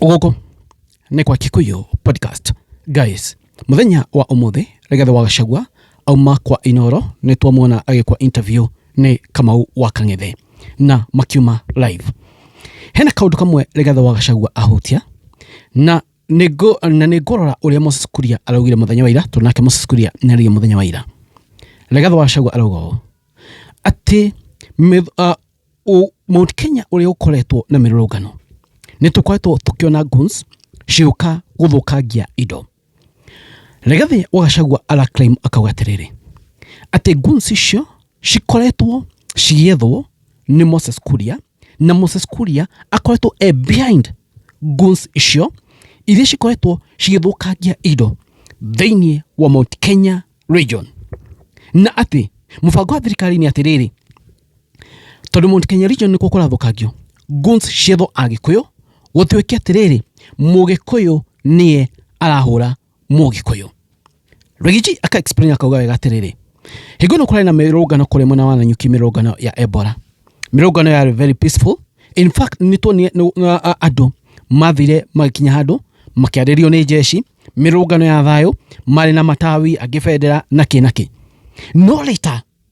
gũkũ nĩ kwa kikuyu podcast guys mũthenya wa ũmũthĩ rigathi wa gacagua auma kwa inoro nĩ twamuona agĩkwa interview nĩ kamau wa kang'ethe na makiuma live hena kaũndũ kamwe rigathi wa gacagua ahutia na nĩngũ- na nĩ ngũrora ũrĩa moses kuria araugire mũthenya wa ira tondũ nake moses kuria nĩ araugire mũthenya wa ira rigathi wa gacagua arauga ũũ atĩ mĩth- ah, Mount Kenya ũrĩa ũkoretwo na mĩrũrũngano nĩ tũkoretwo tũkĩona guns cigĩũka gũthũkangia indo. Rigathi wa Gachagua araclaim akauga atĩrĩrĩ, atĩ guns icio cikoretwo cigĩethwo nĩ Moses Kuria na Moses Kuria akoretwo e behind guns icio iria cikoretwo cigĩthũkangia indo thĩinĩ wa Mount Kenya region. Na atĩ mũbango wa thirikari nĩ atĩrĩrĩ, tondũ Mount Kenya region nĩkuo kũrathũkangio guns ciethwo Agĩkũyũ, gũtuĩke atĩrĩrĩ Mũgĩkũyũ nĩye arahũra Mũgĩkũyũ. Rigiji aka explain akauga wega atĩrĩrĩ, hingo ĩno kũrarĩ na mĩrũngano kũrĩa mwena wa Nanyuki, mĩrũngano ya Ebola, mĩrũngano yarĩ very peaceful. In fact nĩtuonire andũ mathire magĩkinya handũ makĩarĩrio nĩ jeshi, mĩrũngano ya thayũ, marĩ na matawi angĩ bendera na kĩ na kĩ, no later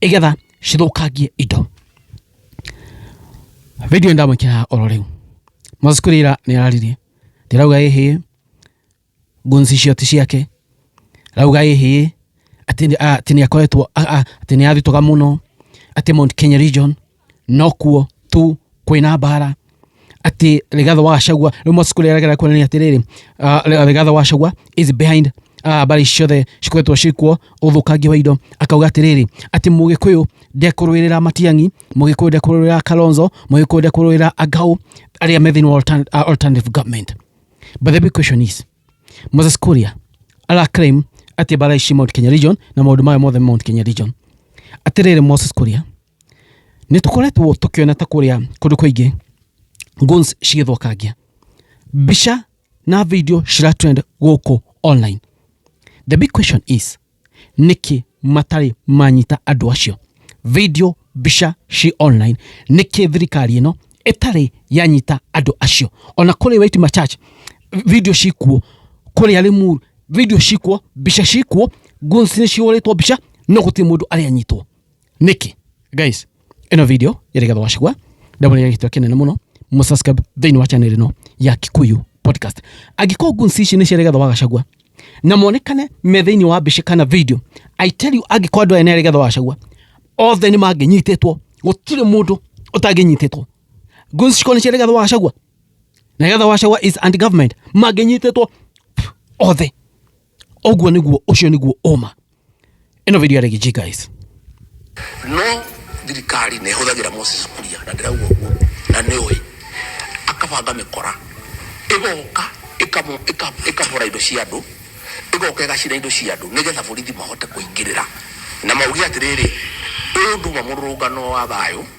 igetha cithũkangie indo video ndamwĩkĩra oro rĩu mwacikurira nĩ araririe ndirauga ĩhĩ gunzi icio ti ciake rauga ĩhĩ atĩ nĩ- a- atĩ nĩ akoretwo a- a- atĩ nĩ athitũka mũno atĩ Mount Kenya region nokuo tu kwĩna mbara atĩ Rigathi wa Gachagua rĩu Moses Kuria aragera kuonania atĩrĩrĩ uh, Rigathi wa Gachagua is behind uh, mbara ici ciothe cikoretwo cikuo ũthũkangia wa indo akauga atĩrĩrĩ atĩ mũgĩkũyũ ndekũrũĩrĩra matiangi mũgĩkũyũ ndekũrũĩrĩra kalonzo mũgĩkũyũ ndekũrũĩrĩra angau arĩa me thĩinĩ wa altern- uh, alternative government but the big question is moses kuria ara claim atĩ mbara ici mount kenya region na maũndũ mayo mothe mount kenya region atĩrĩrĩ moses kuria Nĩ tũkoretwo tũkĩona ta kũrĩa kũndũ kũingĩ guns cigĩthũkangia mbica na video cira trend gũkũ online. The big question is nĩkĩ matarĩ manyita andũ acio? Video, mbica ci online, nĩkĩ thirikari ĩno ĩtarĩ yanyita andũ acio? Ona kũrĩ Waitima Church video cikuo, kũrĩa Rĩmuru video cikuo, mbica cikuo, guns nĩ cihũrĩtwo mbica no gũtirĩ mũndũ arĩ anyitwo. nĩkĩ guys ĩno video ĩrĩ gatho wacigwa ndamũrĩa gĩtwa kĩnene mũno mũsubscribe thĩinĩ wa channel ĩno ya kikuyu podcast angĩkorwo guns ici nĩ ciarĩ gatho wa gacagua na monekane me thĩinĩ wa mbica kana video i tell you angĩkorwo andũ aya nĩ arĩ gatho wa gacagua othe nĩ mangĩnyitĩtwo gũtirĩ mũndũ ũtangĩnyitĩtwo guns cikorwo nĩ ciarĩ gatho wa gacagua na gatho wa gacagua is anti government mangĩnyitĩtwo pff, othe Ũguo nĩguo ũcio nĩguo ũma. Ĩno video ya Reggie guys. No thirikari nĩ ĩhũthagĩra Moses Kuria na ndĩrauga ũguo na nĩ ũĩ akabanga mĩkora ĩgoka ĩkabora indo cia andũ ĩgoka ĩgacina indo cia andũ nĩgetha borithi mahote kũingĩrĩra na mauge atĩrĩrĩ ũyũ nduma mũrũrũngano wa thayũ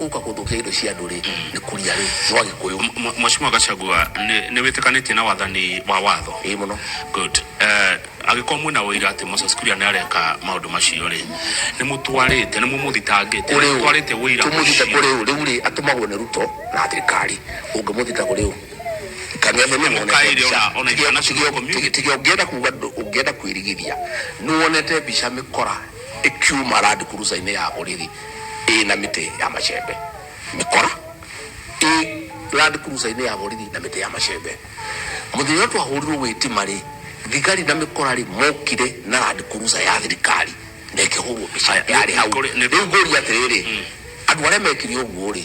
uka guthukia indo cia andu ri ni kuria ri jwa gikuyu M- Mheshimiwa Gachagua nĩ nĩ wĩtĩkanĩtie na wathani wa watho ii muno good Eh, agĩkorwo mwĩna ũira atĩ Moses Kuria nĩ areka maũndũ macio rĩ nĩ mũtwarĩte nĩ mũmũthitangĩte kuri nĩ mũtwarĩte u ũira tumuthite ũcio. kuri u riu ri atumagwo ni ruto na thirikari ungimuthita kuri u Mũkaire ona- ona international community. tiga ungienda kuga ndu- ungienda kwirigithia ni wonete mbica mikora ikiuma randi kuruca-inĩ ya borithi ĩ na mĩtĩ ya macembe mĩkora ĩ Land Cruiser-inĩ ya borithi na mĩtĩ ya macembe mũthenya ũrĩa twahũrirwo gwĩtima rĩ thigari na mĩkora rĩ mokire na Land Cruiser ya thirikari na ĩkĩhũrwo mbica yarĩ hau rĩu ngũria atĩrĩrĩ andũ arĩa mekire ũguo rĩ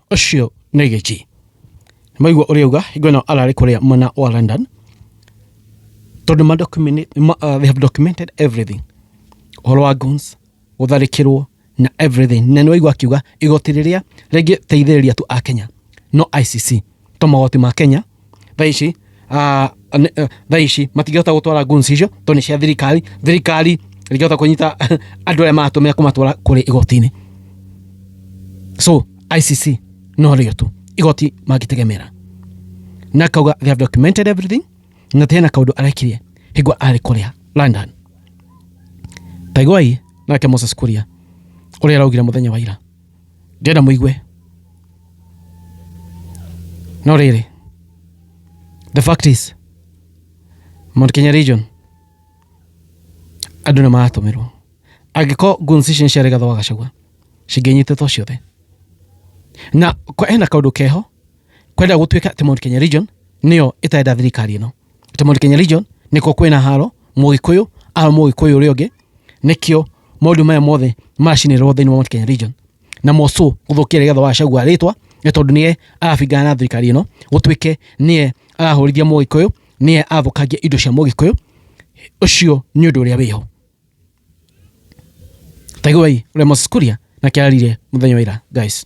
ũcio nĩ gĩki maigua ũrĩa uga hingo ĩno ararĩ kũrĩa mwena wa london tondũ ma document- ma- uh, they have documented everything ũhoro wa guns gũtharĩkĩrwo na everything na nĩwaigua akiuga igoti rĩrĩa rĩngĩteithĩrĩria tu a kenya no icc to magoti ma kenya thaa ici ah, ne- eh, thaa ici matingĩhota gũtwara guns icio tondũ nĩ cia thirikari thirikari ĩngĩhota kũnyita andũ arĩa maratũmĩra kũmatwara kũrĩ igoti-inĩ so icc no rĩo tu igoti mangĩtegemera na akauga they have documented everything na tena na kaundu arekirie hingo arä kå rä a london taiguai nake moses kuria å rä a araugire må thenya wa ira Ndĩrenda mũigue. No rĩrĩ, the fact is, Mount Kenya region, andũ nĩ maratũmĩrwo. Angĩkorwo goons ici nĩ cia Rigathĩ wa Gachagua, cingĩnyitĩtwo ciothe. Na hena kaũndũ keho, kwenda gũtuĩka atĩ Mount Kenya region, nĩyo ĩtarenda thirikari ĩno. Atĩ Mount Kenya region, nĩkuo kwĩna haro, Mũgĩkũyũ, ara Mũgĩkũyũ ũrĩa ũngĩ. nĩkĩo maũndũ maya mothe maracinĩrĩrwo thĩinĩ wa Mount Kenya region na Mosũ gũthũkia rĩgetha wa Gachagua rĩtwa nĩ tondũ nĩye arabingana na thirikari ĩno gũtuĩke nĩye arahũrithia Mũgĩkũyũ nĩye athũkangia indo cia Mũgĩkũyũ ũcio nĩ ũndũ ũrĩa wĩho taiguai ũrĩa Moses Kuria nake ararire mũthenya wa ira guys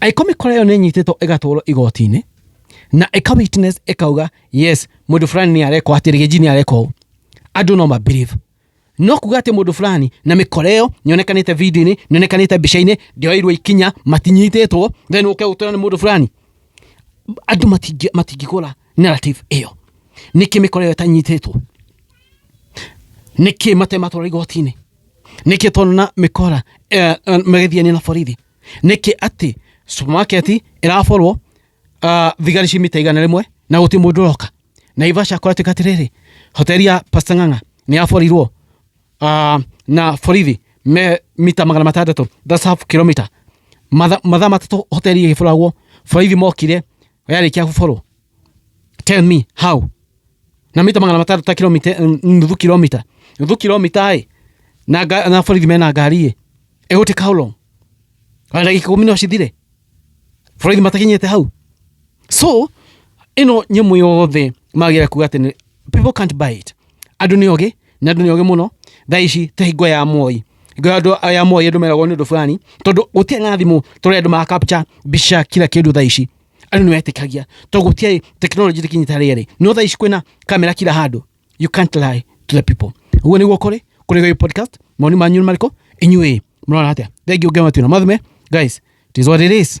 angĩkorwo mĩkora ĩyo nĩ ĩnyitĩtwo ĩgatwarwo igoti-inĩ na ĩka witness ĩkauga yes mũndũ fulani nĩ arekwo atĩ rĩgĩnji nĩ arekwo ũũ." andũ no mabelieve no kuga atĩ mũndũ fulani na mĩkora ĩyo nĩonekanĩte video-inĩ nĩonekanĩte mbica-inĩ ndĩoirwo ikinya matinyitĩtwo then ũke ũtwĩra nĩ mũndũ fulani andũ matingĩ- matingĩgũra narrative ĩyo nĩkĩ mĩkora ĩyo ĩtanyitĩtwo nĩkĩ matematwara igoti-inĩ nĩkĩ tondũ na mĩkora eh, eh, magĩthiania na borithi nĩkĩ atĩ supermarket ĩraborwo ah, thigari ci mita igana rĩmwe na gũtirĩ mũndũ ũroka naivasha kũratuĩka atĩrĩrĩ hoteli ya pasta ng'ang'a nĩ yaborirwo ah, na borithi me mita magana matandatũ that's half kilometer matha mathaa matatũ hoteli ĩgĩboragwo borithi mokire yarĩkia gũborwo Tell me how. Na mita magana matatu ta kilomita eh, nuthu kilomita. Nuthu kilomita ai. Na ga- na borithi mena ngari ĩ. It will take how long? Ona ndagĩka ikũmi no cithire. Borithi matakinyĩte hau. So ĩno nyamũ yothe magĩra kuga atĩ nĩ- people can't buy it. Andũ nĩ ogĩ na andũ nĩ ogĩ mũno. Thaa ici ta hingo ya Moi. Hingo ya andũ ya Moi andũ meragwo nĩ ũndũ fulani tondũ gũtirĩ na thimũ tũrĩa andũ ma capture mbica kila kĩndũ thaa ici. Andũ nĩ wetĩkagia. To gũtiarĩ technology ndĩkinyĩte harĩa ĩrĩ. No thaa ici kwĩna kamera kila handũ. You can't lie to the people. Ũguo nĩguo kũrĩ. Kũrĩ gũyũ podcast. Maoni manyu nĩ marĩkũ? Inyuĩ mũrona atĩa? Thengiũ ngema twĩna. Mathume, guys, it is what it is.